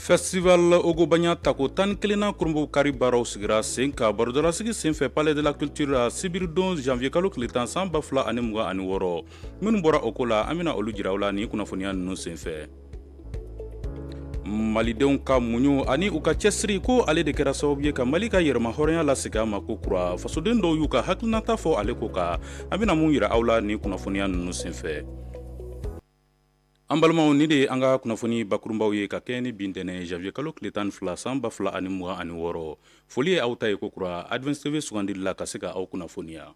festival ogobanya tako tan kelennan kurunbonkari baaraw sigira sen kan barodalasigi senfɛ palais de la culture la sibiridon janvier kalo tile tan san ba fila ani mugan ani wɔɔrɔ minnu bɔra o ko la an bena olu jira aw la ni kunnafoniya nunu senfɛ malidenw ka muɲu ani u ka cɛsiri ko ale de kɛra sababu ye ka mali ka yɛrɛmahɔrɔnya lasegin a ma ko kura fasoden dɔw y'u ka hakilinata fɔ ale ko kan an bena mun yira aw la ni kunnafoniya nunu senfɛ An balimaw ni de ye an ka kunnafoni bakurunbaw ye ka kɛɲɛ ni bi ntɛnɛn janvier kalo tile tan fila san ba fila ani mugan ani wɔɔrɔ foli ye aw ta ye ko kura Advance TV sugandili la ka se ka aw kunnafoniya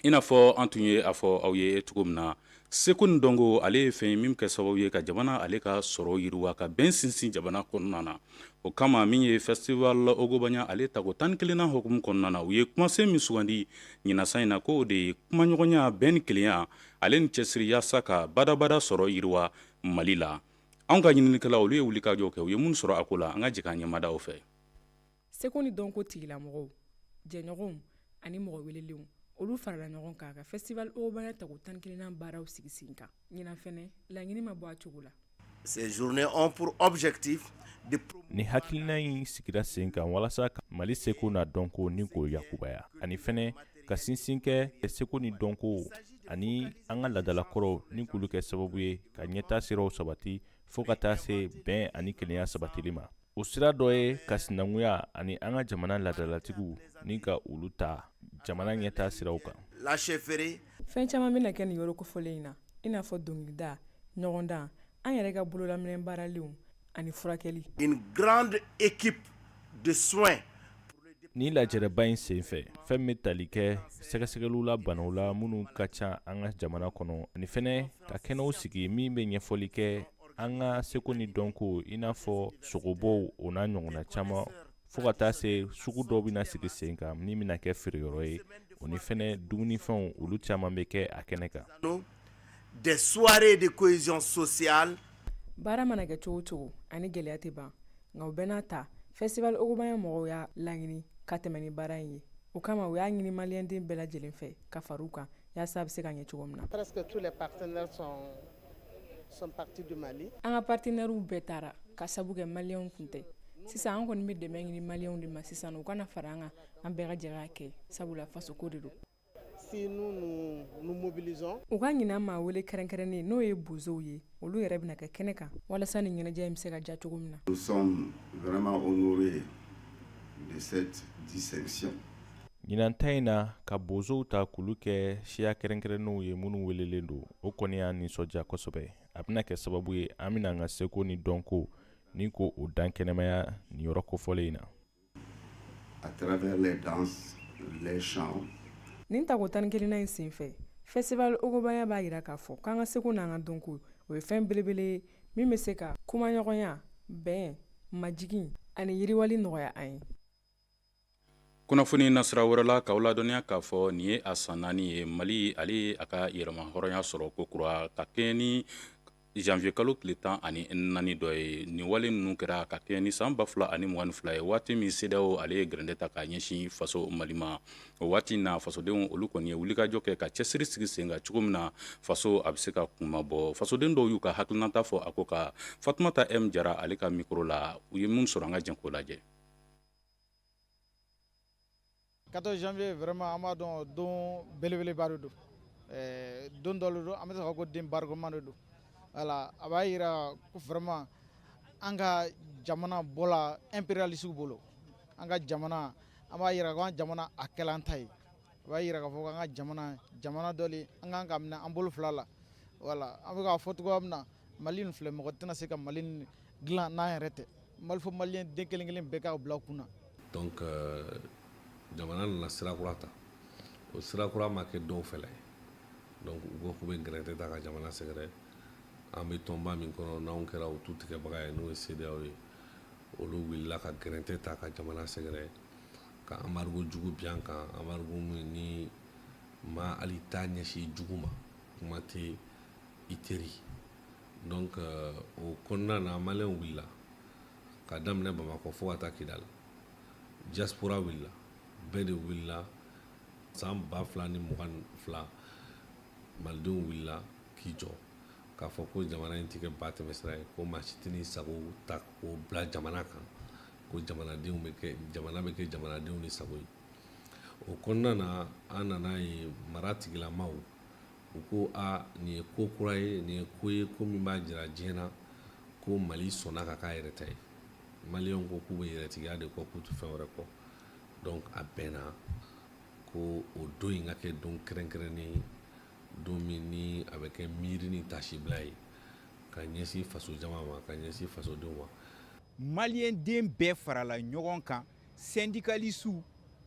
i n'a fɔ an tun ye a fɔ aw ye cogo min na seko ni dɔnko ale ye fɛn min bɛ kɛ sababu ye ka jamana ale ka sɔrɔ yiriwa ka bɛn sinsin jamana kɔnɔna na o kama min ye festival ogobanya ale tako tan ni kelennan hukumu kɔnɔna na u ye kumasen min sugandi ɲinan san in na ko o de ye kumaɲɔgɔnya bɛn ni kelenya ale ni cɛsiri yaasa ka badabada sɔrɔ yiriwa mali la anw ka ɲininikɛlaw olu ye wulikajɔ kɛ u ye minnu sɔrɔ a ko la an ka jɛ k'an ɲɛmada u fɛ seko ni dɔnko tigilamɔgɔw jɛɲɔgɔnw ani mɔgɔ welelenw olu farala ɲɔgɔn kan ka festival ogobanya tako tan kelennan baaraw sigi sen kan ɲinan fɛnɛ laɲini ma bɔ a cogo la Nin hakilina in sigira sen kan walasa ka mali seko n'a dɔnko nin k'o yakubaya ani fɛnɛ ka sinsin kɛ seko ni dɔnko ani an ka ladalakɔrɔw nin k'olu kɛ sababu ye ka ɲɛtaa siraw sabati fo ka taa se bɛn ani kelenya sabatili ma o sira dɔ ye ka sinankunya ani an ka jamana ladalatigiw ni ka olu ta jamana ɲɛtaa siraw kan la chefferie fɛn caman bɛna kɛ nin yɔrɔ kofɔlen in na i n'a fɔ dɔnkilida ɲɔgɔndan an yɛrɛ ka bololaminɛn baaralenw ani furakɛli une grande équipe de soins ni lajɛrɛba in senfɛ fɛn min bɛ tali kɛ sɛgɛsɛgɛliw la banaw la minnu ka ca an ka jamana kɔnɔ ani fɛnɛ ka kɛnɛw sigi min bɛ ɲɛfɔli kɛ an ka seko ni dɔnko i n'a fɔ sogobɔw o n'a ɲɔgɔnna caman fɔɔ ka taa se sugu dɔ bɛna sigi sen kan min bɛna kɛ feereyɔrɔ ye o ni fɛnɛ dumunifɛnw olu caman bɛ kɛ a kɛnɛ kan des soirées de cohésion sociale baara mana kɛ cogo cogo ani gɛlɛya tɛ ban nka o bɛɛ n'a ta festival ogobanya mɔgɔw y'a laɲini ka tɛmɛ ni baara in ye o kama u y'a ɲini maliyɛnden bɛɛ lajɛlen fɛ ka fara u kan yaasa a bɛ se ka ɲɛ cogo min na An ka partenaires bɛɛ taara k'a sabu kɛ maliyɛnw tun tɛ, sisan an kɔni bɛ dɛmɛ ɲini maliyɛnw de ma sisan u ka na fara an kan an bɛɛ ka jɛ k'a kɛ sabula fasoko de don, si nous ne nous mobilisons u ka ɲinan maa wele kɛrɛnkɛrɛnnen n'o ye bozow ye olu yɛrɛ bɛna kɛ kɛnɛ kan walasa nin ɲɛnajɛ in bɛ se ka diya cogo min na. Nous sommes vraiment honorés de cette distinction. Ɲinan ta in na ka bozow ta k'olu kɛ siya kɛrɛnkɛrɛnnenw ye minnu welelen don o kɔni y'an nisɔndiya kosɛbɛ a bɛna kɛ sababu ye an bɛna an ka seko ni dɔnko ni ko o dan kɛnɛmaya nin yɔrɔ kofɔlen in na à travers les danses les chants nin tako tan ni kelennan in senfɛ festival ogobanya b'a jira k'a fɔ k'an ka seko n'an ka dɔnko o ye fɛn belebele ye min bɛ se ka kumaɲɔgɔnya bɛn majigin ani yiriwali nɔgɔya an ye kunnafoni nasira wɛrɛ la k'aw ladɔnniya k'a fɔ nin ye a san naani ye mali ale ye a ka yɛrɛmahɔrɔnya sɔrɔ ko kura ka kɛɲɛ ni janvier kalo tile tan ani naani don ye nin wale ninnu kɛra ka kɛɲɛ ni san ba fila ani mugan ni fila ye waati min CEDEAO ale ye gɛrɛntɛ ta ka ɲɛsin faso mali ma o waati na fasodenw olu kɔni ye wulikajɔ kɛ ka cɛsiri sigi sen kan cogo min na faso a bɛ se ka kunmabɔ fasoden dɔw y'u ka hakilinata fɔ a ko kan fatumata m jara ale ka mikoro la u ye min sɔrɔ an ka jɛ k'o lajɛ 14 janvier vraiment an b'a dɔn don belebeleba de don eh, don dɔ de don an bɛ se ka fɔ ko don barikama de don voilà a b'a jira ko vraiment an ka jamana bɔla impérialistes bolo an ka jamana an b'a jira ko an jamana a kɛla an ta ye a b'a jira k'a fɔ ko an ka jamana jamana dɔ le an kan k'a minɛ an bolo fila la voilà an bɛ k'a fɔ cogoya min na mali in filɛ mɔgɔ tɛna se ka mali in dilan n'an yɛrɛ tɛ mali fo maliyɛn den kelen kelen bɛɛ k'aw bila kunna donc euh, jamana nana sira kura ta o sira kura ma kɛ dɔw fɛla ye donc u ko k'u bɛ gɛrɛntɛ ta ka jamana sɛgɛrɛ an bɛ tɔnba min kɔnɔ n'anw kɛra o tutigɛbaga ye n'o ye CEDEAO ye olu wulila ka gɛrɛntɛ ta ka jamana sɛgɛrɛ ka embargo jugu bin an kan embargo min ni maa hali t'a ɲɛsin jugu ma kuma tɛ i teri donc euh, o kɔnɔna na maliyɛnw wulila ka daminɛ bamakɔ fo ka taa kidali diaspora wulila bɛɛ de wulila san ba fila ni mugan ni fila malidenw wulila k'i jɔ k'a fɔ ko jamana in tɛ kɛ ba tɛmɛsira ye ko maa si tɛ n'i sago ta k'o bila jamana kan ko jamana bɛ kɛ jamanadenw de sago ye o kɔnɔna na an nan'a ye maratigilamaw u ko aa nin ye ko kura ye nin ye ko ye ko min b'a jira diɲɛ na ko mali sɔnna ka k'a yɛrɛ ta ye maliyɛnw ko k'u bɛ yɛrɛtigiya de kɔ k'u tɛ fɛn wɛrɛ kɔ donc a bɛnna ko o don in ka kɛ don kɛrɛnkɛrɛnnen ye don min ni a bɛ kɛ miiri ni tasibila ye ka ɲɛsin faso jama ma ka ɲɛsin fasodenw ma maliyɛn den bɛɛ farala ɲɔgɔn kan syndicalistes,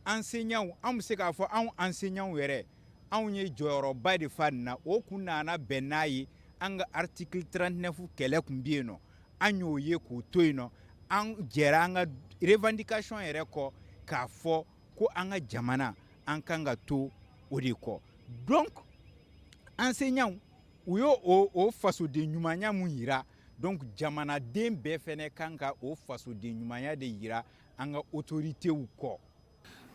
enseignants, an bɛ se k'a fɔ anw enseignants yɛrɛ, anw ye jɔyɔrɔba de fa nin na, o kun nana bɛn n'a ye an ka article 39 kɛlɛ kun bɛ yen nɔ, an y'o ye k'o to yen nɔ, an jɛra an ka revendication yɛrɛ kɔ k'a fɔ ko an ka jamana an kan ka to o de kɔ donc enseignants u y'o o fasoden ɲumanya min yira donc jamanaden bɛɛ fɛnɛ kan ka o fasoden ɲumanya de yira an ka otoritew kɔ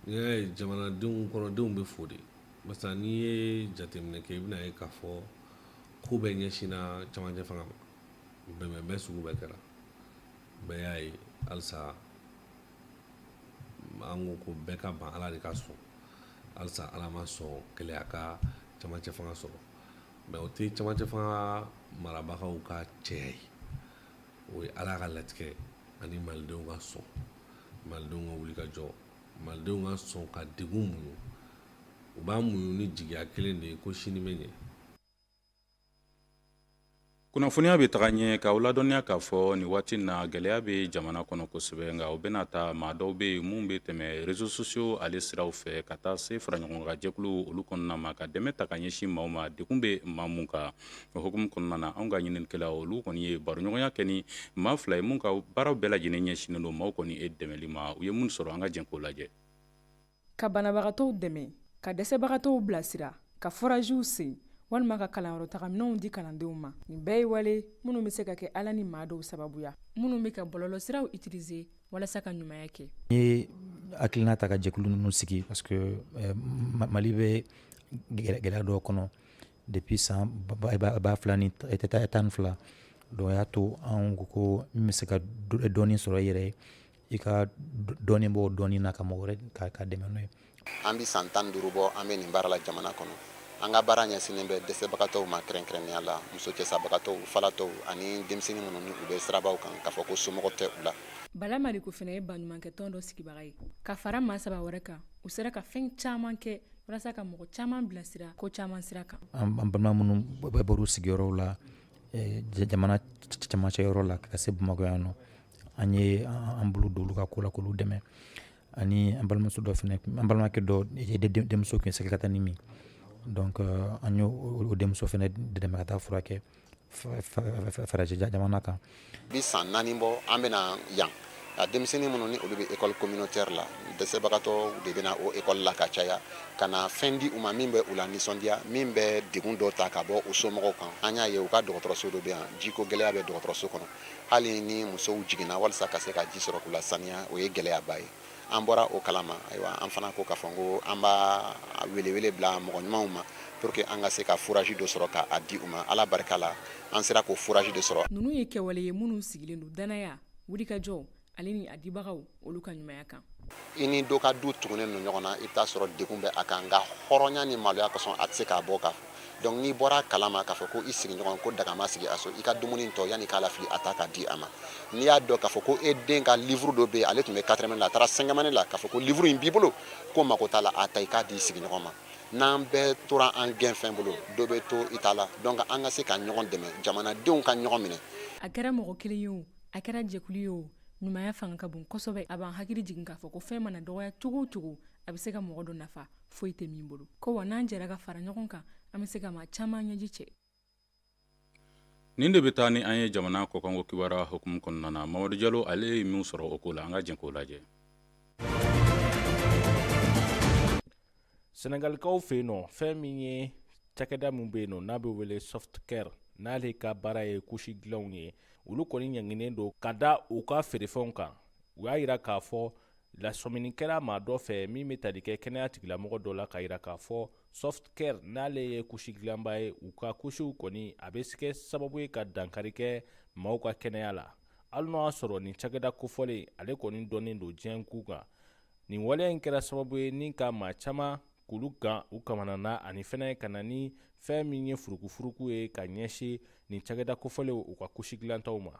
n'i y'a ye jamanadenw kɔnɔdenw bɛ fo de barisa n'i ye jateminɛ kɛ i bɛna ye k'a fɔ ko bɛɛ ɲɛsinna camancɛ fanga ma bɛnbɛnbɛn sugu bɛɛ kɛra bɛɛ y'a ye halisa an ko ko bɛɛ ka ban ala de ka sɔn halisa ala ma sɔn gɛlɛya ka camancɛ fanga sɔrɔ Mais o tɛ camancɛ fanga marabagaw ka cɛya ye o ye ala ka latigɛ ani malidenw ka sɔn malidenw ka wuli ka jɔ malidenw ka sɔn ka degun muɲu u b'a muɲu ni jigiya kelen de ye ko sini bɛ ɲɛ kunnafoniya bɛ taga ɲɛ k'aw ladɔnniya k'a fɔ nin waati in na gɛlɛya bɛ jamana kɔnɔ kosɛbɛ nka o bɛɛ n'a ta maa dɔw bɛ yen minnu bɛ tɛmɛ réseaux sociaux ale siraw fɛ ka taa se faraɲɔgɔnkan jɛkuluw olu kɔnɔna ma ka dɛmɛ ta ka ɲɛsin maaw ma degun bɛ maa minnu kan o hukumu kɔnɔna na anw ka ɲininikɛlaw olu kɔni ye baroɲɔgɔnya kɛ ni maa fila ye minnu ka baaraw bɛɛ lajɛlen ɲɛsinnen don maaw kɔni ye dɛmɛli ma u ye minnu sɔrɔ an ka jɛn k'o lajɛ ka banabagatɔw dɛmɛ ka dɛsɛbagatɔw bilasira ka forajiw sen walima ka kalanyɔrɔtagaminɛnw di kalandenw ma nin bɛɛ ye wale minnu bɛ se ka kɛ ala ni maa dɔw sababuya minnu bɛ ka bɔlɔlɔsiraw utiliser walasa ka ɲumanya kɛ n ye hakilina ta ka jɛkulu ninnu sigi parce que eh, mali bɛ gɛlɛya dɔw kɔnɔ depuis san ba fila ni tan ni fila donc y'a to an ko min bɛ se ka dɔɔni sɔrɔ i yɛrɛ ye i ka dɔɔni bɔ dɔɔni na ka mɔgɔ wɛrɛ ka dɛmɛ n'o ye an bɛ san tan duuru bɔ an bɛ nin baara la jamana kɔnɔ an ka baara ɲɛsinnen bɛ dɛsɛbagatɔw ma kɛrɛnkɛrɛnnenya la muso cɛsabagatɔw falatɔw ani denmisɛnnin minnu ni u bɛ sirabaw kan k'a fɔ ko somɔgɔ tɛ u la bala mariko fana ye baɲumankɛ tɔn dɔ sigibaga ye ka fara maa saba wɛrɛ kan u sera ka fɛn caman kɛ walasa ka mɔgɔ caman bilasira ko caman sira kan an balima minnu bɛ bɔr'u sigiyɔrɔw la eh, jamana camancɛ yɔrɔ la ka se bamakɔ yan nɔ an ye an bolo don olu ka ko la k'olu dɛmɛ ani an balimamuso dɔ fana an balimakɛ dɔ denmuso tun ye sɛgɛkatanin min donc an y' o denmuso fana dɛmɛ ka taa furakɛ farajɛ jamana kan bi san naani bɔ an bɛna yan a denmisɛnnin minnu ni olu bɛ ekɔli communautaire la dɛsɛbagatɔw de bɛna o ekɔli la ka caya ka na fɛn di u ma min bɛ u la nisɔndiya min bɛ degun dɔ ta ka bɔ u somɔgɔw kan an y'a ye u ka dɔgɔtɔrɔso dɔ bɛ yan jiko gɛlɛya bɛ dɔgɔtɔrɔso kɔnɔ hali ni musow jiginna walasa ka se ka ji sɔrɔ k'u lasaniya o ye gɛlɛyaba ye an bɔra o kalama ayiwa an fana ko k'a fɔ ko an b'a welewele bila mɔgɔ ɲumanw ma pour que an ka se ka foraji dɔ sɔrɔ k'a di u ma ala barika la an sera k'o foraji de sɔrɔ ninnu ye kɛwale ye minnu sigilen don danaya wulikajɔ ale ni a dibagaw olu ka ɲumanya kan i ni dɔ ka du tugunnen don ɲɔgɔn na i bɛ taa sɔrɔ degun bɛ a kan nka hɔrɔnya ni maloya kosɔn a tɛ se k'a bɔ ka donc n'i bɔra kalama k'a fɔ ko i sigiɲɔgɔn ko daga ma sigi a so i ka dumuni tɔ yanni k'a lafili a ta k'a di a ma n'i y'a dɔn k'a fɔ ko e den ka livre dɔ bɛ yen ale tun bɛ quatrième la a taara cinquième année la k'a fɔ ko livre in b'i bolo ko mako t'a la a ta i k'a di i sigiɲɔgɔn ma n'an bɛɛ tora an gɛnfɛn bolo dɔ bɛ to i ta la donc an ka se ka ɲɔgɔn dɛmɛ jamanadenw ka ɲɔgɔn minɛ a kɛra mɔgɔ kelen ye o a kɛra jɛkulu ye o ɲumanya fanga ka bon kosɛbɛ a b'an hakili jigin k'a fɔ ko fɛn mana dɔgɔya cogo o cogo a bɛ se ka mɔgɔ dɔ nafa foyi tɛ min bolo ko wa n'an jɛra ka fara ɲɔgɔn kan an bɛ se ka maa caman ɲɛji cɛ nin de bɛ taa ni an ye jamana kɔkanko kibaruya hukumu kɔnɔna na mamadu jalo ale ye min sɔrɔ o ko la an ka jɛn k'o lajɛ senegalikaw fɛ yen nɔ fɛn min ye cakɛda min bɛ yen nɔ n'a bɛ wele soft care n'ale ka baara ye kusi dilanw ye olu kɔni ɲanginen don ka da u ka feerefɛnw kan u y'a yira k'a fɔ lasɔmini kɛra maa dɔ fɛ min bɛ tali kɛ kɛnɛya tigilamɔgɔ dɔ la k'a yira k'a fɔ soft care n'ale ye kusi dilanba ye u ka kusiw kɔni a bɛ se kɛ sababu ye ka dankari kɛ maaw ka kɛnɛya la hali n'o y'a sɔrɔ nin cakɛda kofɔlen ale kɔni dɔnnen don diɲɛ kun kan nin waleya in kɛra sababu ye ni ka maa caman k'olu gan u kamana na ani fɛnɛ ka na ni fɛn min ye furukufuruku ye ka ɲɛsin nin cakɛda kofɔlenw u ka kusi dilantaw ma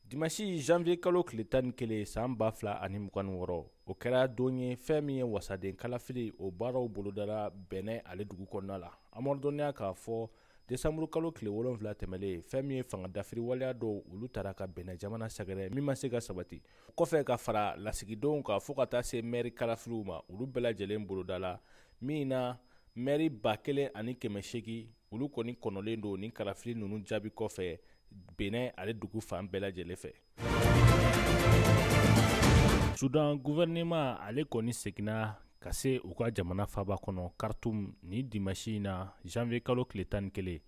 dimasi janvier kalo tile tan ni kelen san ba fila ani mugan ni wɔɔrɔ o kɛra don ye fɛn min ye wasaden kalafili o baaraw bolodara benin ale dugu kɔnɔna la an b'aw ladɔnniya k'a fɔ desanburu kalo tile wolonfila tɛmɛlen fɛn min ye fanga dafiri waleya dɔw olu taara ka benin jamana sɛgɛrɛ min ma se ka sabati kɔfɛ ka fara lasigidenw kan fɔɔ ka taa se mɛri kalafiliw ma olu bɛɛ lajɛlen bolodala min na mɛri ba kelen ani kɛmɛ segin olu kɔni kɔnɔlen don ni kalafili ninnu jaabi kɔfɛ benin ale dugu fan bɛɛ lajɛlen fɛ sudan gouvernement ale kɔni seginna ka se u ka jamana faaba kɔnɔ kartum ni dimasi in na janvier kalo tile tan ni kelen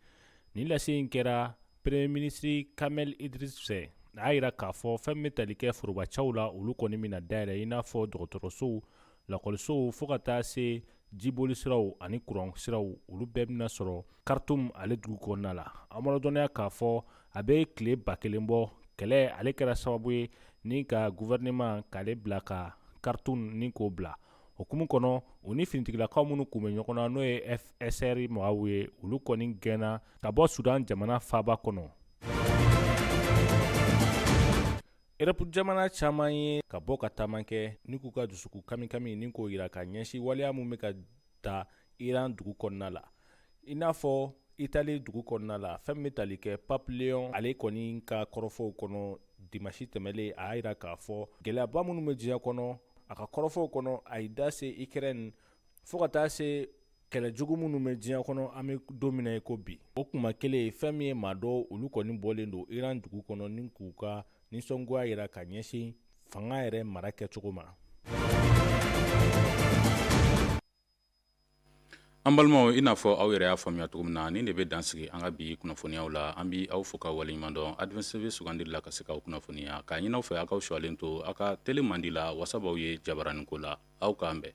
nin lase in kɛra premier ministre kamel idris fɛ a y'a yira k'a fɔ fɛn bɛ tali kɛ forobacɛw la olu kɔni bɛna dayɛlɛ i n'a fɔ dɔgɔtɔrɔsow lakɔlisow fɔɔ ka taa se jiboli siraw ani kuran siraw olu bɛɛ bɛna sɔrɔ kartum ale dugu kɔnɔna la an b'a rɔdɔnniya k'a fɔ a bɛ tile ba kelen bɔ kɛlɛ ale kɛra sababu ye ni ka guvɛrɛnɛman k'ale bila ka kartum ni k'o bila o hukumu kɔnɔ u ni finitigilakaw minnu kun bɛ ɲɔgɔn na n'o ye fsr mɔgɔw ye olu kɔni gɛnna ka bɔ sudan jamana faaba kɔnɔ Erɔpu jamana caman ye ka bɔ ka taama kɛ ni k'u ka dusukun kamikami ni k'o jira ka ɲɛsin waleya min bɛ ka taa iran dugu kɔnɔna la i n'a fɔ itali dugu kɔnɔna la fɛn bɛ tali kɛ pape leyon ale kɔni ka kɔrɔfɔw kɔnɔ dimasi tɛmɛnlen a y'a jira k'a fɔ gɛlɛyaba minnu bɛ diɲɛ kɔnɔ a ka kɔrɔfɔw kɔnɔ a y'i da se ikrɛni fo ka taa se kɛlɛ jugu minnu bɛ diɲɛ kɔnɔ an bɛ don min na i ko bi o kuma kelen fɛn min ye maa dɔw olu kɔni bɔlen don iran dugu kɔnɔ ni k'u ka nisɔngoya jira ka ɲɛsin fanga yɛrɛ mara kɛcogo ma an balimaw i n'a fɔ aw yɛrɛ y'a faamuya cogo min na nin de bɛ dansigi an ka bi kunnafoniyaw la an bɛ aw fo ka waleɲuman dɔn advance tv sugandili la ka se k'aw kunnafoniya k'a ɲini aw fɛ aw k'aw shɔlen to aw ka tele mandi la wasa b'aw ye jabaranin ko la aw k'an bɛn